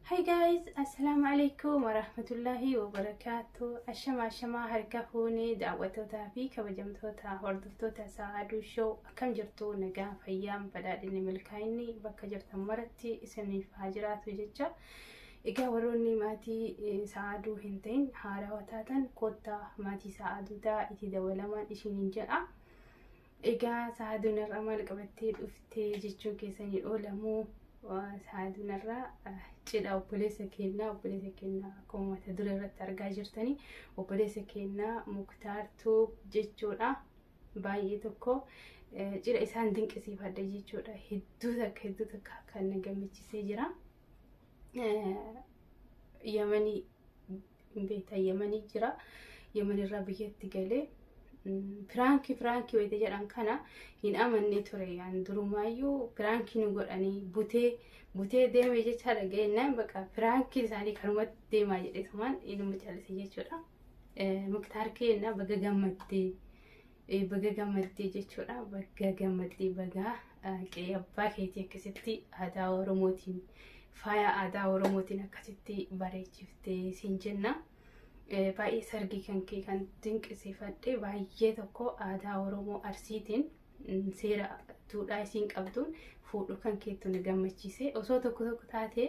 Hi guys, Assalamu alaikum wa rahmatullahi wa barakatuh. Ashama ashama harka fuunee daawwattootaa fi kabajamtoota hordoftoota Sa'aaduu Show akkam jirtu nagaa fayyaan badhaadhinni milkaa'inni bakka jirtan maratti isiniif haa jiraatu jecha. Egaa warroonni maatii Sa'aaduu hin ta'in haarawa taatan koottaa maatii Sa'aaduu ta'a itti dabalamaan isiniin jedha. Egaa saaduu narraa maal qabattee dhufte jechuun keessanii oolamoo saaduu narraa cidha obboleessa keenyaa obboleessa keenyaa akkuma mata duree irratti argaa jirtanii obboleessa keenyaa muktaartuu jechuudha baay'ee tokko cidha isaan dinqisiifadha jechuudha hedduu takka hedduu takka kan na gammachisee jira yamanii beektaa yamanii jira yamanirraa biyyatti galee piraankii piraankii wayita jedhan kana hin amanne ture yaan durumaayyuu piraankii nu godhanii butee butee deeme jechaa dhaga'ennaan bakka piraankiin isaanii kanumatti deemaa jedhetumaan inuma callise jechuudha. Muktaar keenna baga gammaddee. Baga gammaddee jechuudha. Baga gammaddee bagaa qe'ee abbaa keetii akkasitti aadaa Oromootiin faaya aadaa Oromootiin akkasitti bareechiftee siin jenna. Baay'ee sargii kan kee kan dinqisiifadhe baay'ee tokko aadaa Oromoo Arsiitiin seera duudhaa isiin qabduun fuudhu kan keettu na gammachiise. Osoo tokko tokko taatee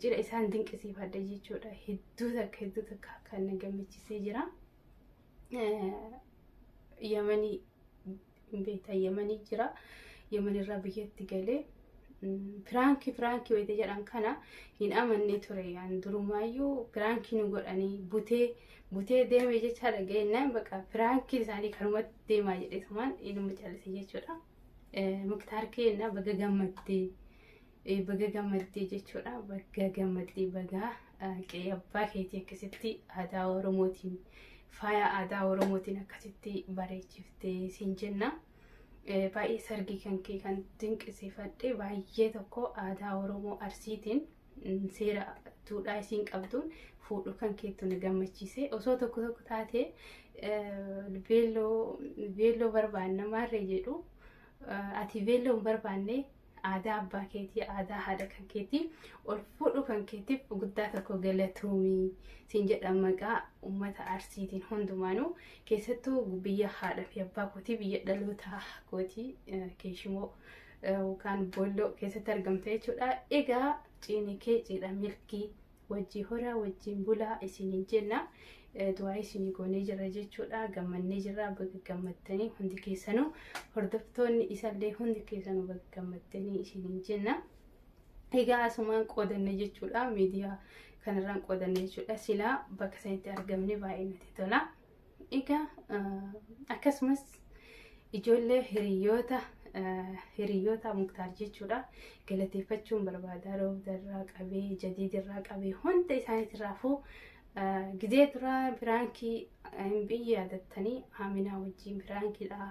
Cidha isaan dinqisiifadha jechuudha. Hedduu takka hedduu takka kan na gammachiisee jira. Yamanii beektaa yamanii jira. Yamanirraa biyyatti galee Piraankii piraankii wayita jedhan kana hin amanne ture yaan durumaayyuu piraankii nu godhanii butee butee deeme jechaa dhaga'inaan bakka piraankiin isaanii kanumatti deemaa jedhe tumaan ilma callise jechuudha. Muktaar keenya baga gammaddee baga gammaddee jechuudha baga gammaddee baga qe'ee abbaa keetii akkasitti aadaa oromootiin faaya aadaa oromootiin akkasitti bareechiftee siin jenna. Eh, Baay'ee sargii kan kee kan dinqisiifadhe baay'ee tokko aadaa Oromoo Arsiitiin mm, seera duudhaa isiin qabduun fuudhuu kan keettu na gammachiise. Osoo tokko tokko taate eh, beelloo beelloo barbaanna maarree jedhu eh, ati beelloo hin barbaanne Aadaa abbaa keetii, aadaa haadha kan keetii ol fuudhuu kan keetiif guddaa tokko galatoomi siin jedha maqaa uummata Arsiitiin hundumaanuu keessattuu biyya haadha fi abbaa kootii biyya dhalootaa kootii eh, keeshimoo eh, yookaan boolloo keessatti argamta jechuudha. Egaa ciini kee ciidha milkii wajjii horaa wajjiin bulaa isiniin jenna du'aa isinii goonee jirra jechuudha gammannee jirra baga gammattanii hundi keessanuu hordoftoonni isallee hundi keessanuu baga gammattanii isiniin jenna egaa asumaan qoodanne jechuudha miidiyaa kanarraan qoodanne jechuudha silaa bakka sanitti argamne baay'ee natti tola. Egaa akkasumas ijoollee hiriyoota hiriyoota muktaar jechuudha galateeffachuun barbaada roobda irraa qabee jadiid irraa qabee hunda isaaniitirraafuu gizee duraa biraankii hin biyyi yaadattanii haaminaa wajjin biraankiidha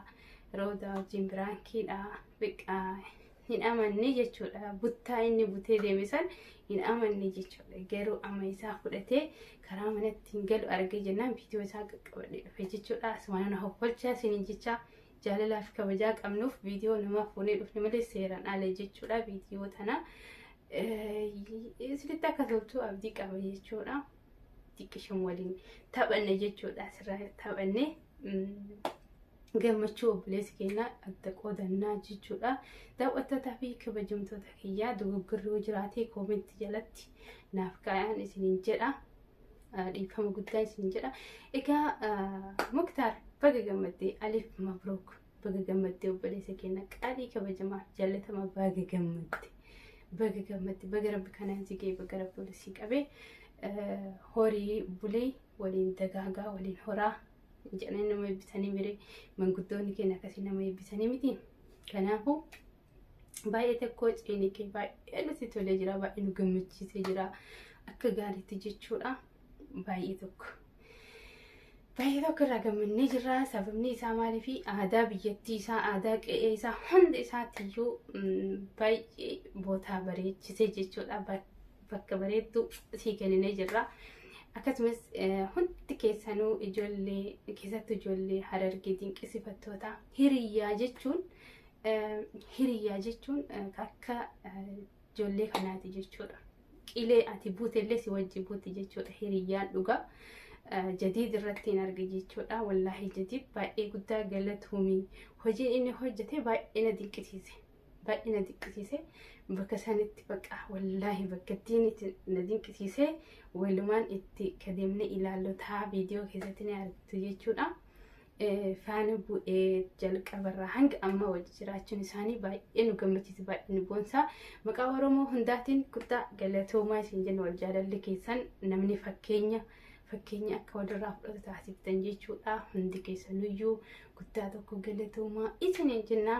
roobda wajjin biraankiidha biqqaa hin amanne jechuudha. Buttaa inni butee deeme san hin amanne jechuudha. Garuu amma isaa fudhatee karaa manatti hin galu argee jennaan viidiyoo isaa qaqqabadhee dhufe jechuudha. Asumaan na hoffolchaa isiniin jecha jaalalaa fi kabajaa qabnuuf viidiyoo namaa fuunee dhufne malee seeraan ala jechuudha. Viidiyoo tana isinitti akka toltu abdii qaba jechuudha. Xiqqishan waliin taphanne jechuudha. Asirraa taphanne gammachuu obboleessi keenya adda qoodannaa jechuudha. Daawwattootaa fi kabajamtoota kiyyaa dogoggorri yoo jiraate koomentii jalatti naaf kaa'aan isiniin jedha. Dhiifama guddaa isiniin jedha. Egaa Muktaar baga gammaddee Aliif Mabrook baga gammaddee obboleessa keenya qaalii kabajamaa jaallatama baga gammadde. Baga gammadde baga rabbi kanaan si ga'e baga rabbi walitti si qabee horii bulee waliin dagaagaa waliin horaa jedhanii nama eebbisanii mire manguddoonni keenya akkasii nama eebbisanii miti kanaafuu baay'ee tokko ciiniqee baay'ee nutti tolee jira baay'ee nu gammachiisee jira akka gaariitti jechuudha baay'ee tokko. Baay'ee tokko irraa gammannee jirra sababni isaa maalii fi aadaa biyyattii isaa aadaa qe'ee isaa hundi isaatiyyuu baay'ee bootaa bareechisee jechuudha bakka bareedduu sii kenninee jirra. Akkasumas hundi keessanuu ijoollee keessattuu ijoollee harargee dinqisiifattoota hiriyyaa jechuun hiriyyaa jechuun akka ijoollee kanaati jechuudha. Qilee ati buutellee si wajji buuti jechuudha hiriyyaan dhugaa. jadiid irratti hin arge jechuudha. Wallaahi jadiid baay'ee guddaa galatoomii hojiin inni hojjete baay'ee na dinqisiise. baay'ee na dinqisiise bakka sanitti bakka wallaahi bakka ittiin itti na dinqisiise walumaan itti kadeemne ilaallotaa viidiyoo keessatti ni argitu jechuudha. Eh, Faana bu'ee jalqabarraa hanga amma wajji jiraachuun isaanii baay'ee nu gammachiisa baay'ee nu boonsa. Maqaa Oromoo hundaatiin guddaa galatoomaa isin jenna wal jaalalli keessan namni fakkeenya fakkeenya akka walirraa fudhatu taasiftan jechuudha. Hundi keessanuyyuu guddaa tokko galatoomaa isiniin jennaa.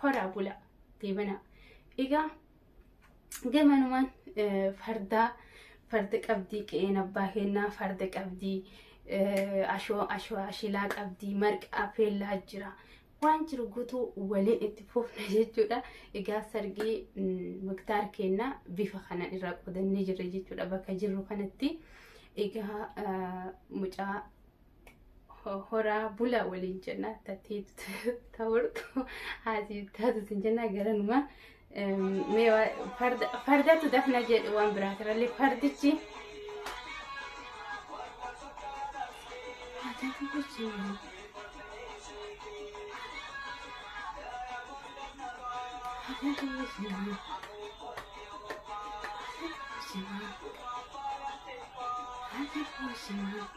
horaa bulaa deebanaa. Egaa gamanumaan fardaa farda qabdii qe'een abbaa kennaa farda qabdii ashoo ashoo ashilaa qabdii marqaa feellaa jira. Waan jiru guutuu waliin itti fufna jechuudha. Egaa sargii muktaar kennaa bifa kana irraa qodannee jirra jechuudha bakka jirru kanatti. Egaa mucaa horaa bula waliin jenna tattii ta'urtu haati taatu sin jenna garanuma mee fardatu dafna jedhu waan biraa kanallee fardichi Thank you.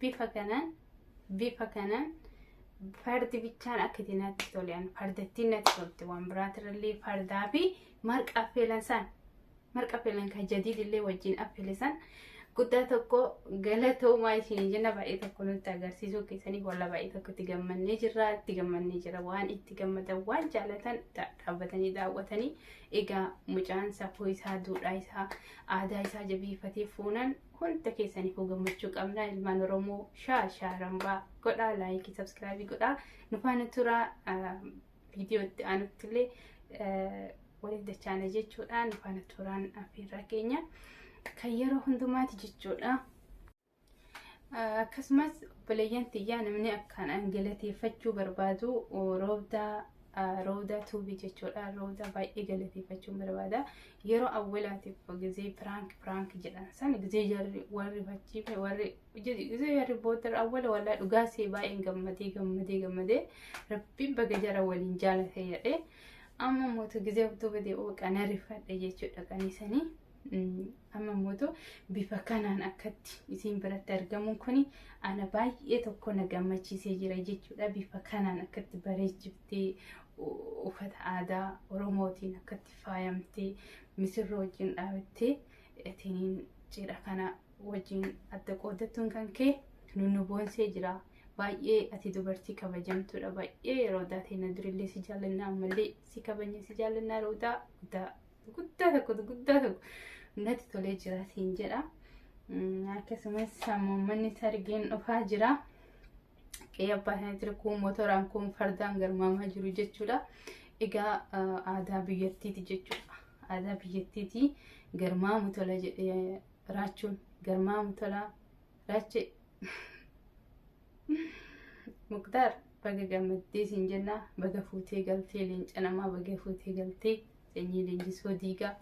bifa kanaan bifa kanaan fardi bichaan akka itti natti tolan fardattiin natti tolti waan biraatirrallee fardaa fi marqa affeelan san marqa affeelan kan jadiidillee wajjin affeelesan guddaa tokko galatoomaa isin jenna baay'ee tokko nutti agarsiisuu keessanii walla baay'ee tokko itti gammannee jirra itti gammannee jira waan itti gammadan waan jaalatan dhaabbatanii daawwatanii egaa mucaan safuu isaa duudhaa isaa aadaa isaa jabeeffatee fuunan hunda keessaniifuu gammachuu qabna ilmaan oromoo shaa shaa rambaa godhaa laayikii sabskraabii godhaa nufaana turaa viidiyoo itti aanutti illee waliif dachaana jechuudha nufaana turaan affeerraa keenya kan yeroo hundumaati jechuudha. Akkasumas obboleeyyan tiyyaa namni akkaan an galateeffachuu barbaadu roobdaa roobdaa tuubii jechuudha roobdaa baay'ee galateeffachuun barbaada yeroo awwelaatiif gizee piraank piraank jedhan san gizee jarri warri bachiife warri gizee jarri booddar awwela walaa dhugaa see baay'een gammadee gammadee gammadee rabbiin baga jara waliin jaalate jedhee amma mootu gizee utuu badee oo qana rifadhe jechuudha qanisanii amma mootu bifa kanaan akkatti isiin biratti argamuun kuni ana baay'ee tokko na gammachiisee jira jechuudha bifa kanaan akkatti bareechiftee uffata aadaa oromootiin akkatti faayamtee misirroo wajjin dhaabattee ittiin cidha kana wajjin adda qoodattuun kan kee nu boonsee jira. Baay'ee ati dubartii kabajamtuudha. Baay'ee yeroo daatee na durillee si jaallannaa ammallee si kabajne si jaallannaa roodaa guddaa guddaa tokko guddaa tokko natti tolee jira siin jedha. Akkasumas sammuummanni sargeen dhufaa jira. qe'ee abbaa isaanii jira kun motoraan kun fardaan garmaamaa jiru jechuudha. Egaa aadaa biyyattiiti jechuudha. Aadaa biyyattiiti garmaamu tola jedhee raachuun garmaamu tola raachee. Muktaar baga gammaddee siin jenna baga fuutee galtee leenca namaa baga fuutee galtee sanyii leenjisoo diigaa.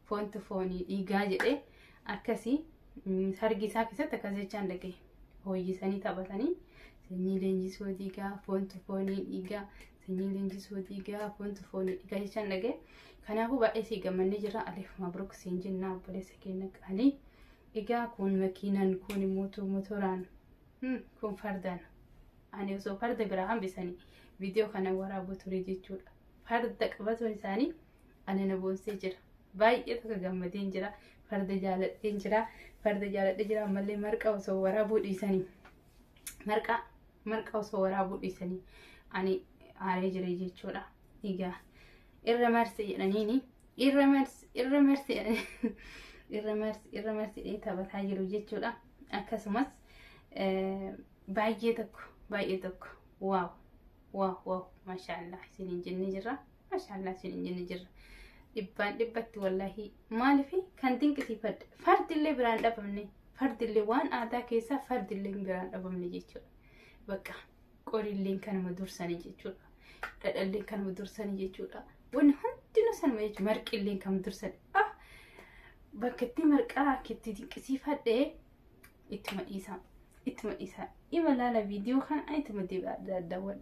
foontu foonii dhiigaa jedhee akkasii mm, sargi isaa keessatti akkas jechaan dhaga'e. Hooyyisanii taphatanii sanyii leenjisoo dhiigaa foontu foonii dhiigaa sanyii leenjisoo dhiigaa foontu foonii dhiigaa jechaan dhaga'e. Kanaafuu baay'ee sii gammannee jirra Aliif Mabruk siin jennaa obboleessa keenya qaalii. Egaa kun makiinaan kun mootu motoraan hmm, kun fardaan ani osoo farda biraa hambisanii viidiyoo kana waraabuu ture jechuudha. Farda qabatuun isaanii Ani na boonsee jira. Baay'ee takka gammadeen jira. Farda jaaladheen jira. Farda jaaladhee jira ammallee marqa osoo waraabuu dhiisanii. Marqa marqa osoo waraabuu dhiisanii ani aaree jira jechuudha. Egaa irra marsi jedhaniini irra marsi irra marsi jedhanii irra marsi irra marsi jedhee taphataa jiru jechuudha. Akkasumas baay'ee tokko baay'ee tokko waaw waaw waaw maashaallah isiniin jennee jirra. Mashallah sin hin jenne jirra. Dhibbaan dhibbatti wallahi maaliif kan dinqisiifadha. Fardillee biraan dhabamne. Fardillee waan aadaa keessaa fardillee biraan dhabamne jechuudha. Bakka qorilleen kanuma dursanii jechuudha. Dhadhalleen kanuma dursanii jechuudha. Wanni hundinuu sanuma jechuudha. Marqilleen kanuma dursanii. Ah! Bakka itti marqaa itti dinqisiifadhe ittuma dhiisaa. Ittuma dhiisaa. Ima laala viidiyoo kana ittuma daawwadha.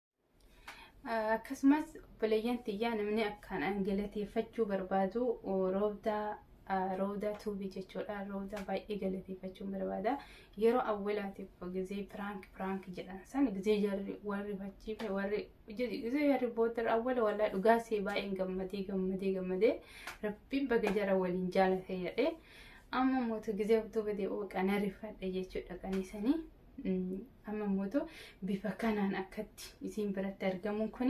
akkasumas obboleeyyan tiyyaa namni akkaan an galateeffachuu barbaadu roobdaa roobdaa tuubii jechuudha roobdaa baay'ee galateeffachuun barbaada yeroo awwalaatiif gizee piraank piraank jedhan san gizee jarri warri fachiife warri gizee jarri booddar awwala walaa dhugaa see baay'een gammadee gammadee gammadee rabbiin baga jara waliin jaalate jedhee amma mootu gizee abduu badee ooqa na rifadhe jechuudha kan isanii Amma immoo bifa kanaan akkatti isin biratti argamuun kun